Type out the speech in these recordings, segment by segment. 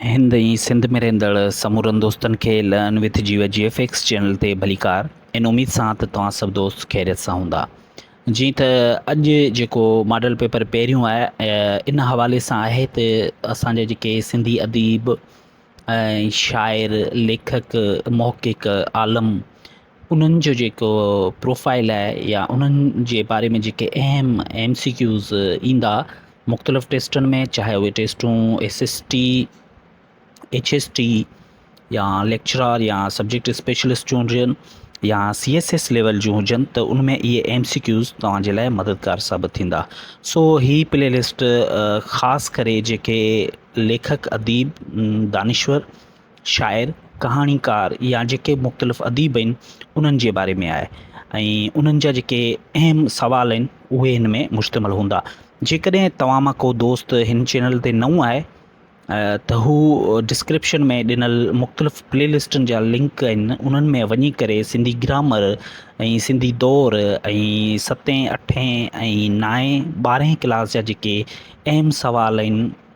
هند ۽ سنڌ ۾ رهندڙ سمورن دوستن کي لئن وٿ جيو جي ايف ايڪس چينل تي ڀليڪار ان اميد سان ته توهان سڀ دوست خيريت سان هوندا جيئن ته اڄ جيڪو ماڊل پيپر پهريون آهي ان حوالي سان آهي ته اسان جا جيڪي سنڌي اديب شاعر ليکڪ محقق عالم انهن جو جيڪو پروفائيل آهي يا انهن جي باري ۾ جيڪي اهم ايم سي ڪيوز ايندا مختلف ٽيسٽن ۾ چاهي اهي ٽيسٽون S S T H S T يا ليڪچرار يا سبجيڪٽ اسپيشلسٽ جون هجن يا سي ايس ايس ليول جون هجن ته ان ۾ اهي ايم سي ڪيوز توهان جي لاء مددگار ثابت ٿيندا سو هي پلي لسٽ خاص ڪري جيڪي ليکڪ اديب دانشور شاعر، ڪهاڻيڪار يا جيڪي مختلف اديب آهن انهن جي باري ۾ آهي ۽ انهن جا جيڪي اهم سوال آهن اهي هن ۾ مشتمل هوندا. جيڪڏهن توهان مان ڪو دوست هن چينل تي نئون آهي ته هو ڊسڪرپشن ۾ ڏنل مختلف پلي لسٽن جا لنڪ آهن انهن ۾ وڃي ڪري سنڌي گرامر ۽ سنڌي دور ۽ ستين اٺين ۽ نائين ٻارهين ڪلاس جا جيڪي اهم سوال آهن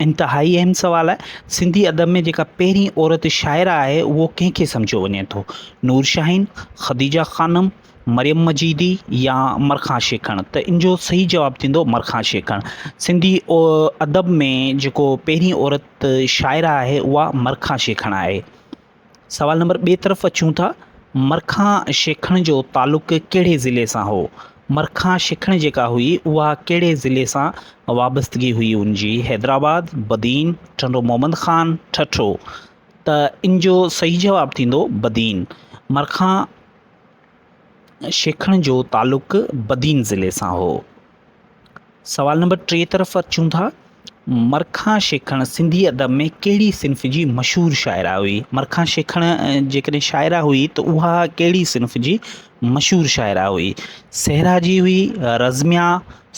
انتهائي اهم سوال آهي. سنڌي ادب ۾ جيڪا پهرين عورت شاعره آهي، اهو ڪنهن کي سمجهيو وڃي ٿو؟ نور شاهين، خديجه خانم، مريم مجيدي يا مرکان شيکڻ؟ ته ان جو صحيح جواب ٿيندو مرکان شيکڻ. سنڌي ادب ۾ جيڪو پهرين عورت شاعره آهي، اها مرکان شيکڻ آهي. سوال نمبر ٻئي طرف اچون ٿا، مرکان شيکڻ جو تعلق ڪهڙي ضلعي سان هو؟ مرکان شيکڻ جيڪا هئي اها ڪهڙي ضلعي سان وابستگي هئي ان جي؟ حيدرآباد، بدين، ٽنڊو محمد خان، ٺٽو. ته ان جو صحيح جواب ٿيندو بدين. مرکان شيکڻ جو تعلق بدين ضلعي سان هو. سوال نمبر ٽي طرف اچون ٿا، مرکان شيکڻ سنڌي ادب ۾ ڪهڙي صنف جي مشهور شاعره هئي؟ مرکان شيکڻ جيڪڏهن شاعره هئي ته اها ڪهڙي صنف جي مشهور شاعره هئي؟ صحرا جي هئي، رزميا،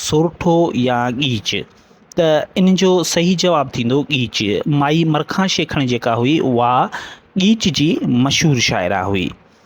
سورٺو يا ڳيچ؟ ته ان جو صحيح جواب ٿيندو ڳيچ. مائي مرکان شيکڻ جيڪا هئي اها ڳيچ جي مشهور شاعره هئي.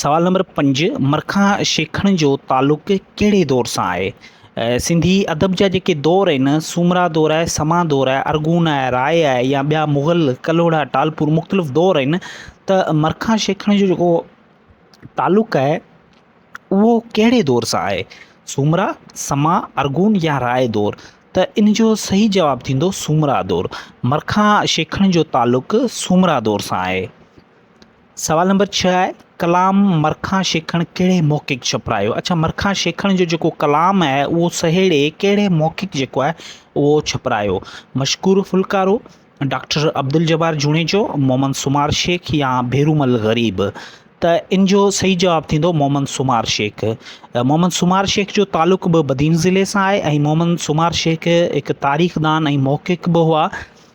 سوال نمبر پنج، مرکان شيخڻ جو تعلق ڪهڙي دور سان آهي؟ سنڌي ادب جا جيڪي دور آهن، سومرا دور آهي، سما دور آهي، ارغون آهي، راء آهي يا ٻيا مغل، ڪلهوڙا، ٽالپور مختلف دور آهن ته مرکان شيخڻ جو جيڪو تعلق آهي اهو ڪهڙي دور سان آهي؟ سومرا، سما، ارغون يا راء دور؟ ته ان جو صحيح جواب ٿيندو سومرا دور. مرکان شيخڻ جو تعلق سومرا دور سان آهي. سوال نمبر ڇهه آهي ڪلام مرکان شيکڻ ڪهڙي محقق ڇپرايو؟ اڇا مرکان شيکڻ جو جيڪو ڪلام آهي اهو سهيڙي ڪهڙي محقق جيڪو آهي اهو ڇپرايو؟ مشڪور ڦلڪارو، ڊاڪٽر عبدالجبار جوڻيجو، محمد سومار شيخ يا ڀيرومل غريب؟ ته ان جو صحيح جواب ٿيندو محمد سومار شيخ. محمد سومار شيخ جو تعلق به بدين ضلعي سان آهي ۽ محمد سومار شيخ هڪ تاريخدان ۽ محقق به هئا.